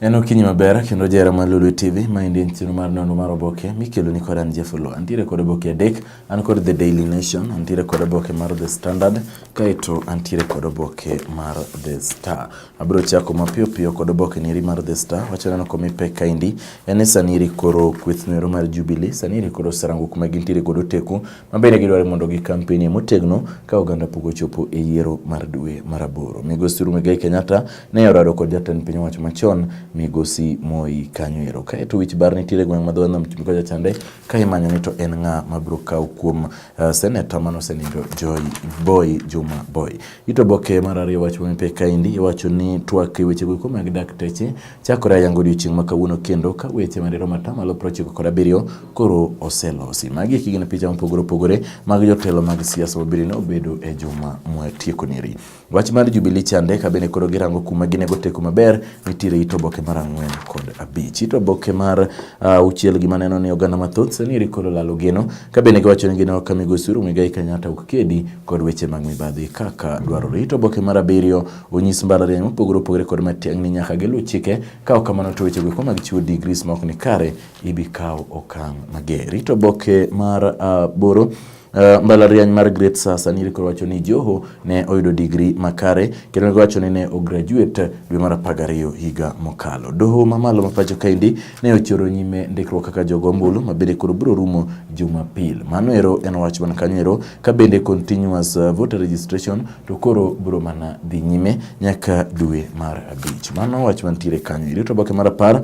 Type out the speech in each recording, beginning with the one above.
En okinyi maber kendo jera mar Lolwe TV ma endi en chenro mar nono mar oboke mikelo ni kod an Jeff Oloo. Antiere kod oboke adek, an kod The Daily Nation, antiere kod oboke mar The Standard, kaeto antiere kod oboke mar The Star. Abiro chako mapiyo piyo kod oboke niri mar The Star, wacha neno koma ipek kaendi. En ni sani iri koro kweth noero mar Jubilee, sani iri koro oserango kuma gintiere godo teku ma bende gidwaro mondo gikampenie motegno ka oganda pok ochopo e yiero mar dwe mar aboro. Migosi Uhuru Muigai Kenyatta ne orado kod jatend piny owacho machon Migosi Moi Kanywero. Kae to wich bar nitiere gweng' ma dho nam chumbi kocha chande ka imanyo ni to en ng'a ma biro kawo kuom uh, seneta manosenindo Joy Boy Juma Boy. Ito boke mar ariyo wach mamipe kaendi iwacho ni twak e weche goeko mag dakteche chakore ayango odiochieng' ma kawuono kendo ka weche madiro mata malo prochiko kod abiriyo koro oselosi. Magi eki gin picha mopogore opogore mag jotelo mag siasa mabiro ne obedo e juma mwatieko neri. Wach mar Jubilee chande ka bende koro girango kuma ginego teko maber nitiere ito boke mar ang'wen kod abich. Ito boke mar uh, uchiel gima neno ni oganda mathoth sani eri koro lalo geno ka bende giwacho ni gino ka migosi Uhuru Muigai Kenyatta ok kedi kod weche mag mibadhi kaka dwarore. To oboke mar abiriyo onyis mbalariany mopogore opogore kod matiang'ni nyaka giluw chike, ka ok kamano to weche goeko mag chiwo digris ma ok ni kare ibi kaw okang' mager. Rito oboke mar aboro uh, Uh, mbalariany mar Great Sasa ni rikoro wacho ni Joho ne oyudo digri makare kendo ne wacho ni ne ograduate dwe mar apar gariyo higa mokalo. Doho mamalo ma pacho kaendi ne ochoro nyime ndikruok kaka jogo ombulu ma bende koro biro rumo Jumapil. Mano ero en wach man kanyo ero ka bende continuous uh, voter registration to koro biro mana dhi nyime nyaka dwe mar abich. Mano wach mantiere kanyo. Irito oboke mar apar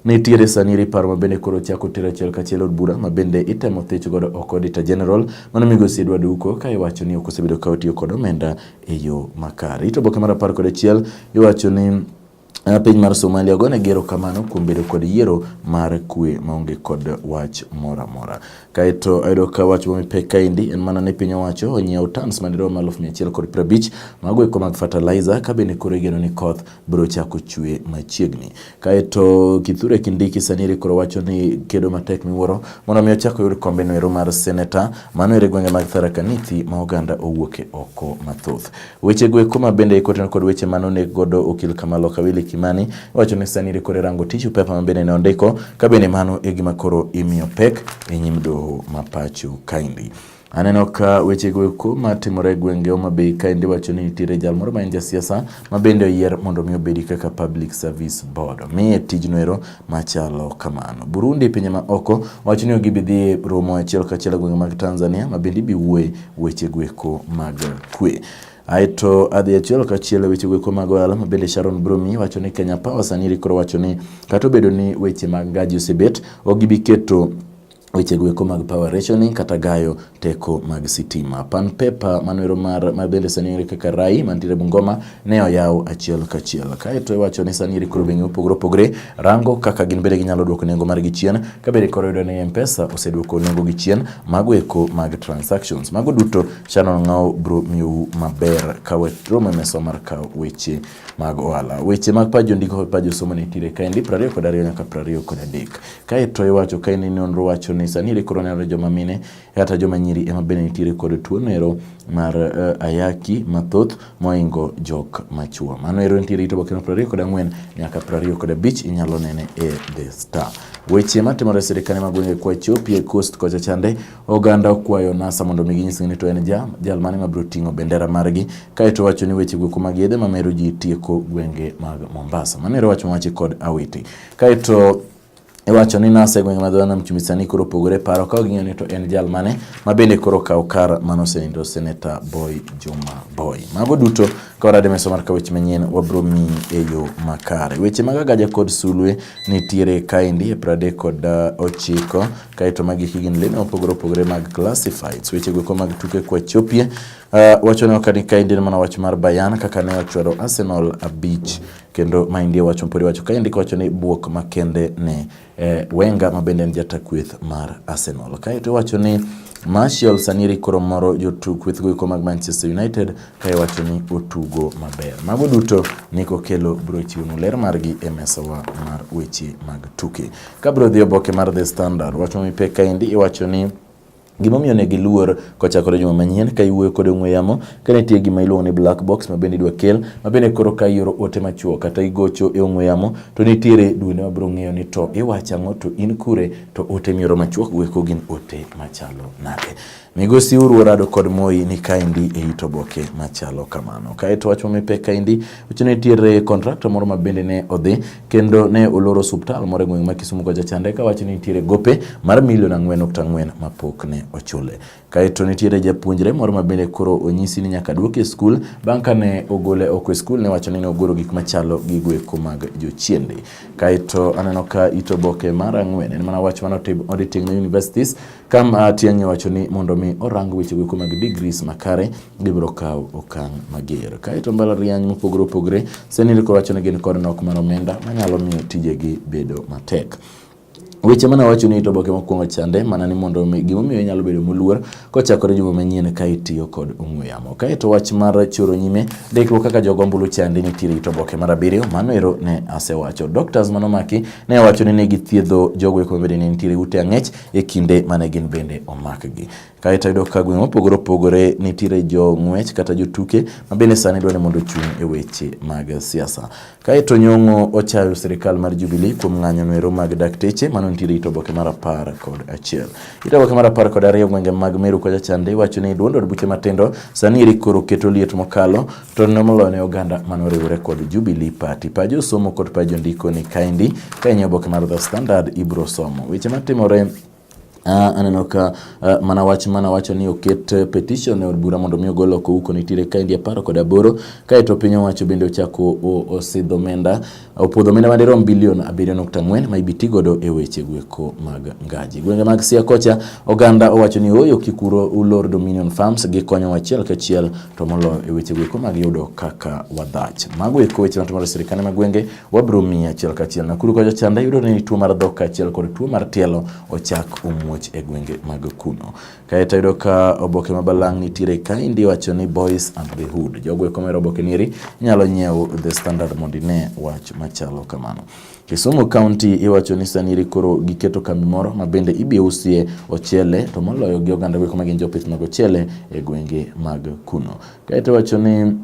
Nitiere sani ripar ma bende koro chako tero achiel kachiel od bura ma bende itemo thich godo oko Auditor General mano migosi Edward Uko ka iwacho ni ok osebedo ka otiyo kod omenda e yo makare. Ito oboke mar apar kod achiel iwacho ni Piny mar Somalia ogonegi erokamano kuom bedo kod yiero mar kwe maonge kod wach moro amora. Kaeto ayudo ka wach moro mipek kaendi en mana ni piny owacho onyiewo tons madirom aluf mia achiel kod piero abich mago eko mag fertilizer ka bende koro igeno ni koth biro chako chwe machiegni. Kaeto Kithure Kindiki sani ere koro wacho ni kedo matek miwuoro mondo mi ochak oyud kombe no ero mar seneta mano ere gwenge mag Tharaka Nithi ma oganda owuoke oko mathoth. Weche go eko mabende ikoten kod weche mane onek godo okil Kamalo Kawili Kimani wacho ni sani rikore rango tissue paper mabende ne ondiko ka bende mano e gima koro imiyo pek e nyim doho ma pacho kaendi. Aneno ka weche go eko matimore e gwenge Homa Bay kaendi wacho ni nitiere jal moro ma en jasiasa ma bende oyier mondo mi obedi kaka Public Service Board. Omiye tijno ero machalo kamano. Burundi pinye ma oko wacho ni gibi dhi romo achiel kachiel gwenge mag Tanzania ma bende ibi wuoye weche gweko mag kwe. Aeto adhi achiel kachiel weche gweko mag ohala ma bende Sharon Brumi wacho ni Kenya Power sani rikoro wacho ni kata obedo ni weche mag ngaji osebet ok gibi keto weche goeko mag power rationing kata gayo teko mag sitima. Pan paper manwero mar ma bende sani yudore kaka Rai mantiere Bungoma ne oyaw achiel kachiel. Kaeto iwacho ni sani koro bengi opogore opogore rango kaka gin bende ginyalo duoko nengo mar gi chien ka bende koro yudo ni M-Pesa oseduoko nengo gi chien mago eko mag transactions. Mago duto Shannon Ngao bro miu maber kawe romo e mesa mar kawo weche mag ohala. Weche mag paj jondiko kod paj josomo nitiere kaendi prariyo kod ariyo nyaka prariyo kod adek. Kaeto iwacho kaendi nonro wacho ni sani ere koro nenore joma mine kata joma nyiri ema bende nitiere kod tuo nero mar uh, ayaki mathoth moingo jok machuo. Mano ero nitiere ito bokeno prariyo kod ang'wen nyaka prariyo kod abich inyalo nene e The Star. Weche matimore e sirkande mag gwenge kwacho pie coast kocha chande Oganda okwayo NASA mondo mi ginyis ni to en ja jal mane mabiro ting'o bendera margi kaeto wacho ni weche gweko mag yedhe mamero ji tieko gwenge mag Mombasa. Mano ero wach mowachi kod Awiti. Kaeto iwacho ni nase gwenge ma dhona mchumi sani koro opogore paro ka ging'eyo ni to en jal mane ma bende koro kawo kar mano osenindo seneta boy juma boy mago duto ka warade meso mar ka weche manyien wabro miyi e yo makare weche mag agaja kod sulwe nitiere kaendi e prade kod uh, ochiko Kae to magi higni lene mopogore opogore mag classifieds. Weche goeko mag tuke kwa chopie. Uh, ah, wacho ne okani kaendi en mana wach mar Bayern kaka ne ochwero Arsenal abich kendo maendi wach mopodi wacho kaendi kawacho ni buok makende ne eh, Wenger ma bende en jata kweth mar Arsenal. Kae to wacho ni Martial Saniri koro moro jotuk kweth goeko mag Manchester United kae wacho ni otugo maber. Mago duto ni kokelo biro chiwonu ler margi e mesawa mar weche mag tuke. Kabro dhi oboke mar The Standard, wach mami pek kaendi iwacho ni Gimomiyo ne giluor kochakore juma manyien ka iwuoyo kod ong'we yamo ka nitie gima iluongo ni black box ma bende idwa kel ma bende koro ka ioro ote machuok kata igocho e ong'we yamo to nitiere duende ma biro ng'eyo ni to iwacho ang'o to in kure to ote mioro machuok go eko gin ote machalo nade. Migosi uru orado kod moi ni kaendi e it oboke machalo kamano. Kaeto wach mamipe kaendi wacho ni nitiere kontrakta moro ma bende ne odhi kendo ne oloro osuptal moro e gweng' ma Kisumu kocha chande ka wacho ni nitiere gope mar milion ang'wen nukta ang'wen ma pok ne ochule. Kaeto nitiere japuonjre moro ma bende koro onyisi ni nyaka duoke e skul bang' ka ne ogole oko e skul ne wacho ni ne ogoro gik machalo gigo eko mag jochiende. Kaeto aneno ka it oboke mar ang'wen en mana wach mane otim Auditing Universities Kam a tiang'e wacho ni mondo mi orang weche weko mag degrees makare gibiro kawo okang' mager. Kaeto mbalariany mopogore opogore senil kowacho ni gin kod nok mar omenda manyalo miyo tijegi bedo matek. Weche mana wacho ni to boke mokwongo chande mana ni mondo mi gimomiyo inyalo bedo moluor kochakore juma manyien ka itiyo kod ong'we yamo. Kaeto wach mar choro nyime ndikruok kaka jogo ombulu chande nitiere ito boke mar abiriyo mano ero ne asewacho. Doctors manomaki ne wacho ni ne githiedho jogo eko mabende ne nitiere ute ang'ech e kinde mane gin bende omakgi. Kae to yudo ka gweng' mopogore opogore nitiere jo ng'wech kata jotuke ma bende sani dwani mondo ochung' e weche mag siasa. Kae to Nyong'o ochayo sirikal mar Jubilee kuom ng'anyo noero mag dakteche mano nitiere it oboke mar apar kod achiel. It oboke mar apar kod ariyo gwenge mag Meru kocha chande iwacho ni duond od buche matindo sani eri koro keto liet mokalo To ne moloyo ne oganda mane oriwore kod Jubilee Party. Pa josomo kod pa jondiko ni kaendi ka in e oboke mar The Standard ibro somo weche matimore Uh, aneno ka uh, mana wach mana wacho ni oket uh, petition e od bura mondo mi ogol oko uko nitiere kaendi apar kod aboro kaeto piny owacho bende ochako osidho omenda Opwodho omenda madirom bilion 7.4 ma ibiti godo e weche gweko mag ngaji. Gwenge mag Siaya kocha oganda owacho ni oyo kikuro ulor Dominion Farms gi konyo achiel kachiel to molo e weche gweko mag yudo kaka wadhach. Mago eko weche matimore e sirkande mag gwenge wabro miyi achiel kachiel. Nakuru kocha chanda yudo ni tuo mar dhok kachiel kod tuo mar tielo ochak omuoch e gwenge mag kuno. Kae to ayudo ka oboke ma balang' nitiere kaendi wacho ni Boys and the Hood. Jogo eko mero oboke nieri inyalo nyiewo The Standard mondo ine wach machalo kamano. Kisumu County iwacho ni saniri koro giketo kambi moro ma bende ibiro usie ochele to moloyo gi oganda gweko ma gin jopith mag ochele e gwenge mag kuno. Kae to wacho ni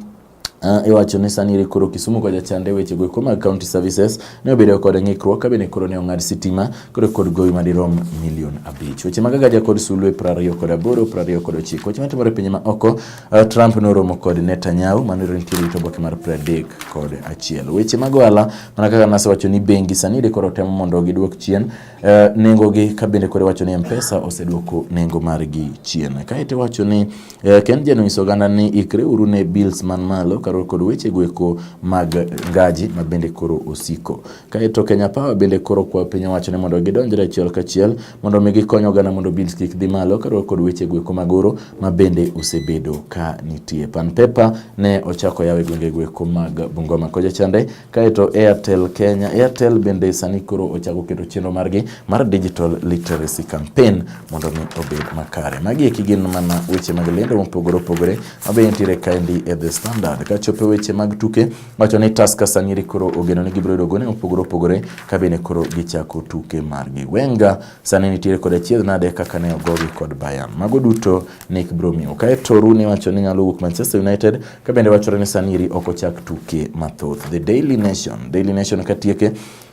Uh, iwacho ni sani iri koro Kisumu kwa jachande weche go mag county services ne obedo kod ng'ikruok ka bende koro ne ong'ad sitima koro kod gowi madirom milion abich. Weche mag agaja kod sulwe prariyo kod aboro prariyo kod ochiko. Weche matimore pinye ma oko uh, Trump noromo kod Netanyahu mano nitie rito boke mar pradek kod achiel. Weche mag ohala mana kaka nasewacho ni bengi sani iri koro temo mondo giduok chien Uh, eh, nengo gi ka bende kore wacho ni mpesa oseduoko nengo margi chien kae to wacho ni uh, eh, ken jeno nyiso oganda ni ikre uru ne bills man malo karo kod weche gweko mag gaji ma bende koro osiko kae to kenya power bende koro kwa piny owacho ni mondo gidonjre achiel kachiel mondo mi gikony oganda mondo bills kik dhi malo karo kod weche gweko mag oro ma bende osebedo ka nitie pan paper ne ochako yawe gwenge gweko mag bungoma koja chande Kaeto Airtel Kenya, Airtel bende sani koro ochako keto chenro margi mar digital literacy campaign mondo mi obed makare. Magi eki gin mana weche mag lendo mopogore opogore mabe nitiere kaendi e The Standard. Ka chope weche mag tuke, wacho ni Tusker sani koro ogeno ni gibiro yudo gone mopogore opogore ka bende koro gichako tuke margi. Wenger sani nitiere kod achiedh nade kaka ne ogogi kod Bayern. Mago duto Nick Bromio. Kaeto Rooney wacho ni nyalo wuok Manchester United Ka bende wachore ni Saniri ok ochak tuke mathoth. The Daily Nation, Daily Nation katieke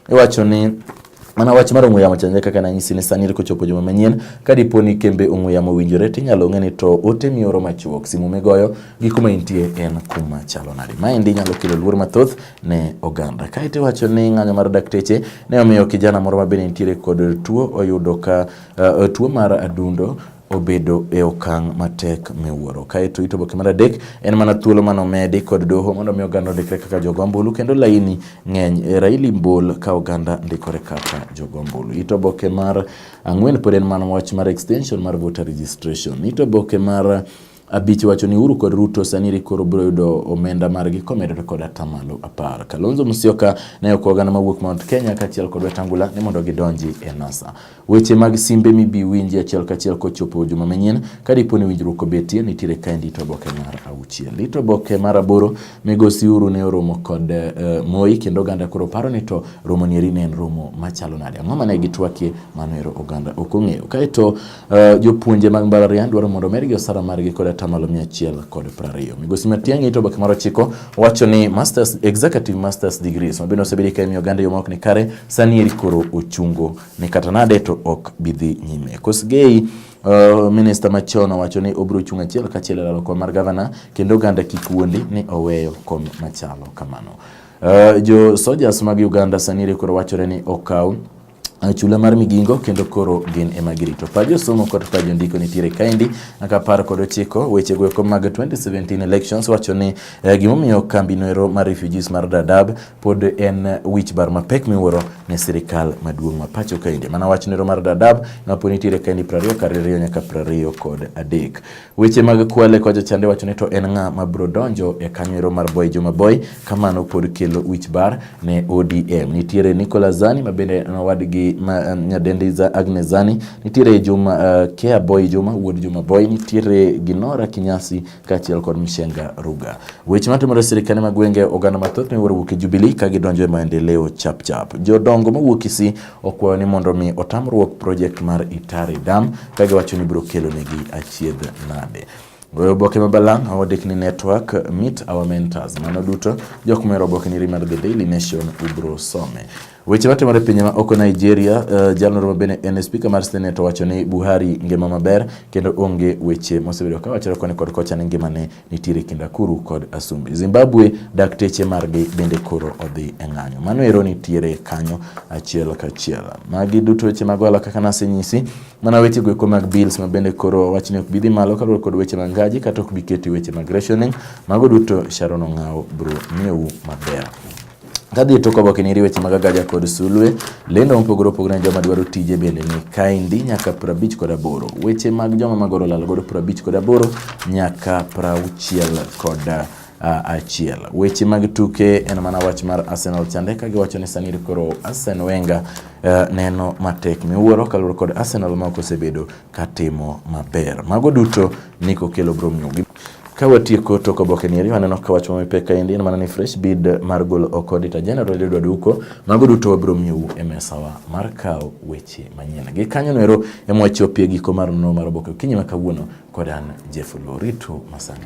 iwacho ni Mana wach mar ong'we yamo chanje kaka nanyisi ni sani kochopo juma manyien, ka dipo ni kembe ong'we yamo owinjore to inyalo ng'e ni to ote mioro machuok, simu migoyo gi kuma intie en kuma chalo nade. Maendi nyalo kelo luor mathoth ne oganda. Kaeto iwacho ni ng'anyo mar dakteche ne omiyo kijana moro ma bende nitiere kod tuo oyudo ka uh, tuo mar adundo obedo e okang' matek miwuoro. Kaeto ito boke mar adek en mana thuolo mane omedi kod doho mondo mi oganda ondikre kaka jogo ombulu kendo laini ng'eny e raili mbol ka oganda ndikore kaka jogo ombulu. Ito boke mar ang'wen pod en mana wach mar extension mar voter registration. Ito boke mar Abich wacho ni Uhuru kod Ruto sani koro biro yudo omenda margi komedore kod atamalo apar. Kalonzo Musyoka ne ok oganda mawuok Mount Kenya kaachiel kod Wetangula ni mondo gidonji e NASA. Weche mag simbe mibi winji achiel kachiel kochopo juma manyien. Ka dipo ni winjruok obetie, nitiere kaendi ito oboke mar auchiel. Ito oboke mar aboro, Migosi Uhuru ne oromo kod uh, Moi kendo oganda koro paro ni to romo nieri ne en romo machalo nade. Ang'o mane gitwakie? Mano ero oganda ok ong'eyo. Kaeto Uh, jopuonje mag mbalariany dwaro mondo omedgi osara margi kod atamalo mia achiel kod prariyo. Migosi Matiang'i ito oboke mar ochiko wacho ni masters, executive masters degrees ma bende osebedi ka imiyo oganda yo maok ni kare sani eri koro ochungo ni kata nade to ok bidhi nyime. Kosgei Uh, minista machon owacho ni obiro chung' achiel kachiel e lalo kom mar gavana kendo oganda kik wuondi ni oweyo kom machalo kamano. Uh, jo sojas mag Uganda sani eri koro wachore ni okaw chula mar migingo kendo koro gin ema girito pa josomo kod pa jondiko nitiere kaendi nyaka apar kod ochiko weche goeko mag 2017 elections wacho ni eh, gimomiyo kambi noero mar refugees mar Dadaab pod en wich bar mapek miwuoro ne sirikal maduong' ma pacho kaendi mana wach noero mar Dadaab ma pod nitiere kaendi 20 kar nyaka 20 kod adek Weche mag Kwale kocha chande wacho ni to en ng'a ma biro donjo e kanyo mar Boy Juma Boy, kamano pod kelo wich bar ne ODM. Nitiere Nicolas Zani ma bende nowadgi ma um, nyadendi za Agnes Zani, nitiere Juma uh, Kea Boy Juma wuod Juma Boy, nitiere Ginora Kinyasi kaachiel kod Mishenga Ruga. Weche matimore sirikande mag gwenge oganda mathoth miwuoro wuok e Jubilee ka gidonjo e maendeleo chap chap. Jodongo mawuok Kisii okwayo ni mondo mi otamruok project mar Itari Dam ka giwacho ni biro kelo negi achiedh nade. Goyo oboke ma balang' awadik ni network meet our mentors. Mano duto jok mero oboke ni mar The Daily Nation ubro some. Weche matimore e pinje ma oko Nigeria, uh, eh, jalno ma bende en spika mar Senate owacho ni Buhari ngima maber kendo onge weche mosebedo ka wachore koni kod kocha ni ngimane nitiere kind akuru kod asumbi. Zimbabwe dakteche margi bende koro odhi e ng'anyo. Mano ero nitiere kanyo achiel kachiel. Magi duto weche mag ohala kaka nasenyisi, mana weche goeko mag bills ma bende koro wachni ok bidhi malo kaluwore kod weche mag ngaji kata ok biketi weche mag rationing. Mago duto Sharon Ong'aw bro miyou maber. Kadhi e tok oboke ni weche mag Agaja kod Sulwe, lendo mopogore opogore ne joma dwaro tije bende ni kaendi nyaka prabich kod aboro. Weche mag joma magoro lal godo prabich kod aboro nyaka prauchiel kod achiel. Weche mag tuke en mana wach mar Arsenal chande ka giwacho ni sani koro Arsene Wenger uh, neno matek miwuoro kaluwore kod Arsenal ma ok osebedo katimo maber. Mago duto Nick Okello bro miyogi. Ka watieko to oboke ni eri waneno ka wach mami pek kaendi en mana ni fresh bid mar golo oko Auditor General Edward Duko. Mago duto wabiro miyou e mesawa mar kawo weche manyien. Gi kanyo noero ema wachopie giko mar nonro mar oboke okinyi ma kawuono kod an Jeff Loritu masani.